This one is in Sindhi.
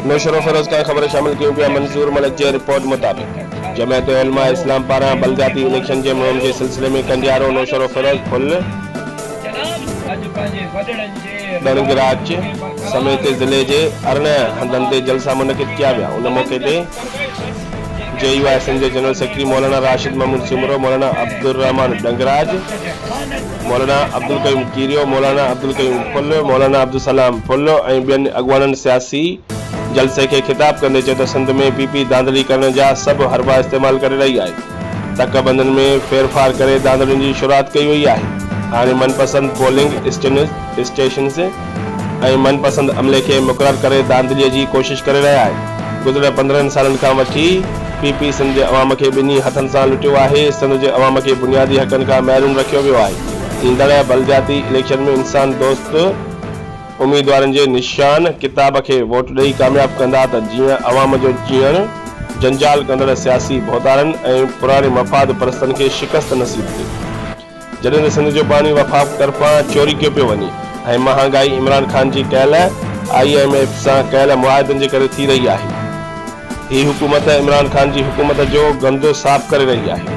نوشھرو فيروز کان خبرون شامل ڪيون پيا منظور ملڪ جي رپورٽ مطابق جمعيت علماء اسلام پاران بلدياتي اليڪشن جي مھم جي سلسلي ۾ ڪنڊيارو نوشھرو فيروز پل ڏڻگراچ سميت ضلعي جي ارڙهن هنڌن تي جلسا منعقد ڪيا ويا ان موقعي تي جي يو آء سنڌ جي جنرل سيڪريٽري مولانا راشد محمود سومرو، مولانا عبدالرحمان ڏنگراج، مولانا عبدالقيوم ڪيريو، مولانا عبدالقيوم ڦل، مولانا عبدالسلام ڦل ۽ ٻين اڳواڻن سياسي جلسي کي خطاب ڪندي چيو ته سنڌ ۾ پي پي ڌانڌلي ڪرڻ جا سڀ حربا استعمال ڪري رهي آهي، تڪ بندن ۾ ڦيرڦار ڪري ڌانڌلين جي شروعات ڪئي وئي آهي، هاڻي من پسند پولنگ اسٽيشنز، ۽ من پسند عملي کي مقرر ڪري ڌانڌلي جي ڪوشش ڪري رهيا آهن گذريل پندرهن سالن کان وٺي پي پي سنڌ جي عوام کي ٻنهي هٿن سان لٽيو آهي سنڌ جي عوام کي بنيادي حقن کان محروم رکيو ويو آهي ايندڙ بلدياتي اليڪشن ۾ انسان دوست اميدوارن جي نشان ڪتاب کي ووٽ ڏئي ڪامياب ڪندا ته جيئن عوام جو جيئڻ جنجال ڪندڙ سياسي ڀوتارن ۽ پراڻي مفاد پرستن کي شڪست نصيب ٿئي. جڏهن ته سنڌ جو باني وفاق طرفان چوري ڪيو پيو وڃي ۽ مهانگائي عمران خان جي ڪيل آء ايم ايف سان ڪيل معاهدن جي ڪري ٿي رهي آهي. هي حڪومت عمران خان جي حڪومت جو گند صاف ڪري رهي آهي.